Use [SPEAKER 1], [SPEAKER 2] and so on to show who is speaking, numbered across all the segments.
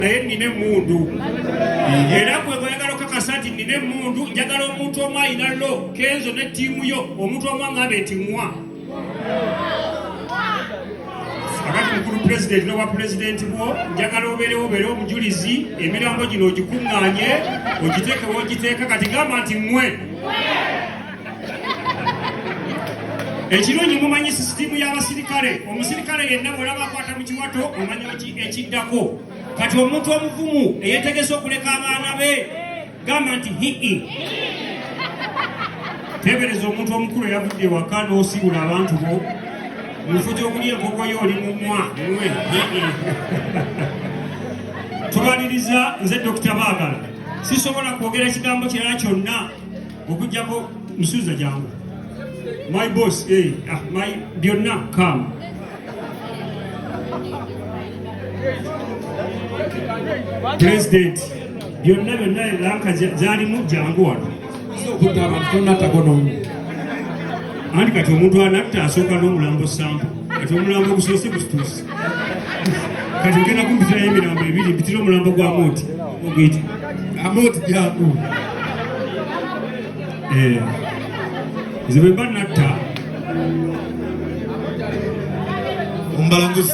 [SPEAKER 1] naye nina emundu era gwe bweyagala okakasa nti nina emundu njagala omuntu omu ayina lo kenzo ne tiimu yo omuntu omu angambe nti mwa agati mukulu pulezidenti nowa pulezidenti bwo njagala obeerewo obeere omujulizi emirambo gino ogikuŋŋanye ogiteekewo ogiteeka kati gamba nti mwe ekirungi mumanyi sisitiimu y'abasirikale omusirikale yenna bwolaba akwata mu kiwato omanya ekiddako kati omuntu omuvumu eyetegese okuleka abaana be gamba nti hii tebereza omuntu omukulu eyavudde ewaka n'osiibula abantu bo mufu gyokulya enkoko yo oli mumwa mwe tubaliriza nze dokita baagala sisobola kwogera kigambo kirala kyonna okujjako musuuza jangu my boss eh, ah, my byonna come president byonna byonna lanka zalimu jangu wano okutta abantu
[SPEAKER 2] tonatako nomu
[SPEAKER 1] anti kati omuntu anatta asooka n'omulambo sampo kati omulambo gusoose gusituuse kati ogenda kumpitirayo emirambo ebiri mpitira omulambo gwa moti ogwiti amoti
[SPEAKER 2] gyaku
[SPEAKER 1] eh. nze bwe mba natta
[SPEAKER 2] ombalanguzi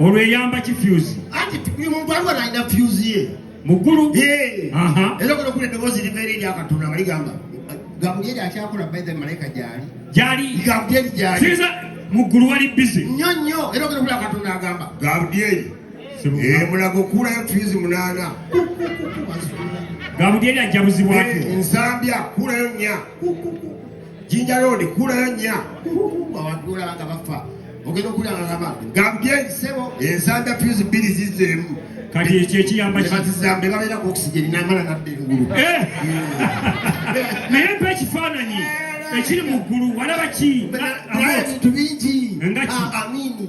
[SPEAKER 3] olwo eyamba
[SPEAKER 1] ki fyuzi anti muntu aliwo
[SPEAKER 3] nalina fyuzi ye muggulu
[SPEAKER 1] era
[SPEAKER 3] kuno kuli eddoboozi libeera eri akatonda nga ligamba gabulyeri akyakola baithe malayika gyali gyali
[SPEAKER 1] gabulyeri gyali
[SPEAKER 3] muggulu wali
[SPEAKER 1] bize nnyo nnyo era ogenda kuli
[SPEAKER 3] akatonda agamba gabulyeri eh, mulago kuulayo fyuzi munaana
[SPEAKER 1] gabulyeri ajjabuzibwako
[SPEAKER 3] eh, nsambya
[SPEAKER 1] kuulayo nnya
[SPEAKER 3] Jinja Road kulayo nya abantu olaba nga bafa ogenda okulaba nga bafa gambye nsebo ensanda fuse bbiri zizeemu kati ekyo
[SPEAKER 1] ekiyamba kibazizambe babeera ku
[SPEAKER 3] oxygen namala nadda engulu eh!
[SPEAKER 1] naye mpa ekifaananyi ekiri mu ggulu walaba ki bintu
[SPEAKER 3] bingi nga ki ah, amini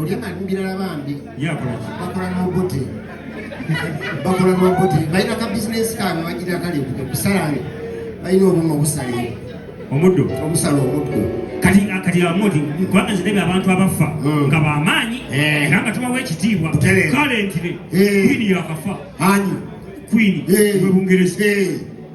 [SPEAKER 3] olyama birala bambi bakola nobuti bakola nobuti balina ka bizinesi kange bagira kali kusalani balina obuma obusale omuddo obusala omuddo kati kati amudi
[SPEAKER 1] kubanga zirebe abantu abaffa hmm. nga bamaanyi eh. era nga tubawa ekitiibwa kale ntire eh. kwini yakafa ani kwini eh. webungereza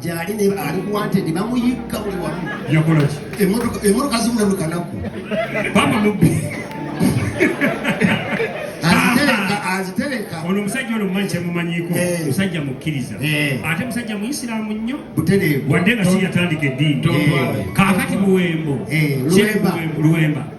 [SPEAKER 3] gyali ali kuwantedi bamuyigga buli wamu
[SPEAKER 1] emotoka
[SPEAKER 3] zibula buli
[SPEAKER 1] kanaku
[SPEAKER 3] azitereka ono omusajja ono mumanyi
[SPEAKER 1] kyemumanyiko eh. musajja mukkiriza eh. ate musajja muisiramu nnyo wadde nga si yatandika eddiini eh. kakati buwembo luwemba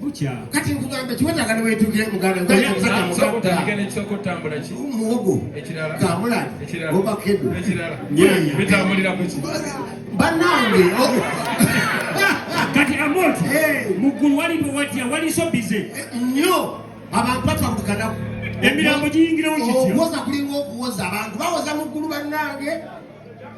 [SPEAKER 1] bukya kati nkugamba
[SPEAKER 3] kiwetaaga newetukire mugamuwogo kamulani obakedo banange
[SPEAKER 1] kati amoti muggulu walipo watya waliso bize nnyo
[SPEAKER 3] abantu batwakukanaku emirambo
[SPEAKER 1] giyingirawo kityo okuwoza kulinga okuwoza
[SPEAKER 3] abantu bawoza muggulu banange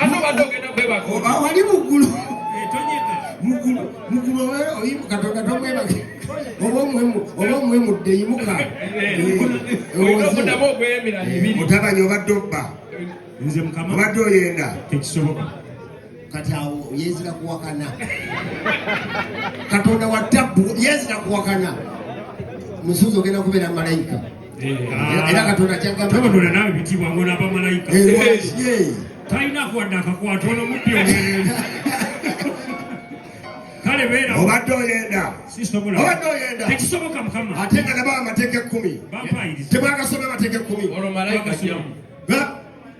[SPEAKER 1] Ate
[SPEAKER 2] obadde ogenda kwebaka. Wali muggulu.
[SPEAKER 3] Etonyeka. Muggulu.
[SPEAKER 1] Muggulu oyimu katonda
[SPEAKER 3] tomwebake. Oba omuwemu oba omuwemudde yimuka. Omudamu ogweyemira
[SPEAKER 2] ebiri. Mutabani obadde obba.
[SPEAKER 3] Nze mukama.
[SPEAKER 1] Obadde oyenda.
[SPEAKER 3] Tekisoboka.
[SPEAKER 1] Kati
[SPEAKER 3] awo yezira kuwakana. Katonda wa tabbu yezira kuwakana. Musuuzi ogenda kubeera malayika. era katonda kyagambatobadola nawe
[SPEAKER 1] bitibwa ngona bamalayika talina kwadde akakwata ono mubbi omulenzi kale beera obadde oyenda
[SPEAKER 3] obadde oyenda
[SPEAKER 1] tekisoboka mukama ate nga nabo amateeka
[SPEAKER 3] ekkumi tebwagasoma amateeka ekkumi olwo malayika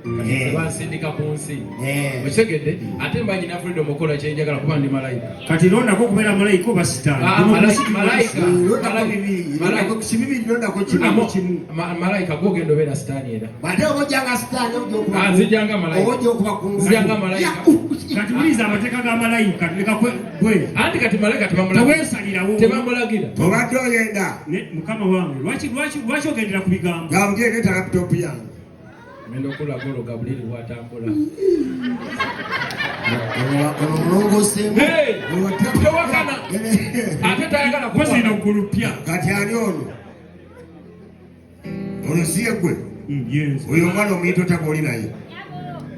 [SPEAKER 2] Eh. bansindika ku nsi eh. okitegedde ate mba nyina freedom okukola kyenjagala kuba ndi malayika kati londako okubeera
[SPEAKER 1] malayika oba sitaanmalayika
[SPEAKER 2] ah, gogenda obeera sitaani era ah, nzijanga malayikakati
[SPEAKER 1] muliza amateeka ga malayika anti kati
[SPEAKER 2] malayika
[SPEAKER 1] tebamulagira
[SPEAKER 2] obadde oyenda
[SPEAKER 3] mukama wange
[SPEAKER 1] lwaki ogendera ku bigambo
[SPEAKER 3] ngenda okula
[SPEAKER 2] golo gabuliri bwatambula tewakana ate tayagala kuzina ggulu pya
[SPEAKER 1] kati ani ono
[SPEAKER 3] olusiye gwe hmm, oyo omwana omuyita otaba oli naye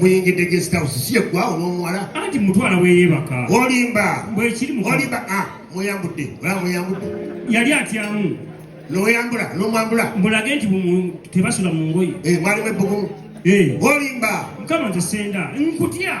[SPEAKER 3] muyingidde guest house si yeggwawo n'omuwala anti mutwala weyeebaka
[SPEAKER 1] olimba bwekiri
[SPEAKER 3] olimba
[SPEAKER 1] a ah, mweyambudde
[SPEAKER 3] ola mweyambudde yali atyamu
[SPEAKER 1] noyambula
[SPEAKER 3] nomwambula mbulage nti
[SPEAKER 1] tebasula mu ngoye eh, mwalimu ebbugumu
[SPEAKER 3] eh. olimba mukama nze senda
[SPEAKER 1] nkutya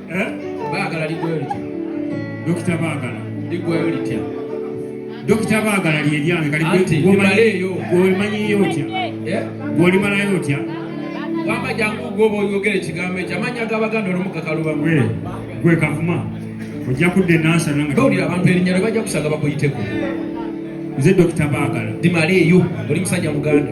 [SPEAKER 2] Eh?
[SPEAKER 1] Baagala ligwayo litya?
[SPEAKER 2] Dokita
[SPEAKER 1] Baagala ligwayo litya? Dokita Baagala lye lyange kati
[SPEAKER 2] gw'omanyiyo otya?
[SPEAKER 1] Eh? Gw'olimalayo otya? Wamba
[SPEAKER 2] jangu gw'oba oyogera ekigambo ekyo amannya g'Abaganda olumukakalubamu. Eh, gwe
[SPEAKER 1] kavuma ojja kudda enansa nanga. Gawulira abantu erinnya lyo
[SPEAKER 2] bajja kusanga bakuyiteko. Nze
[SPEAKER 1] Dokita Baagala. Dimaleeyo oli
[SPEAKER 2] musajja Muganda.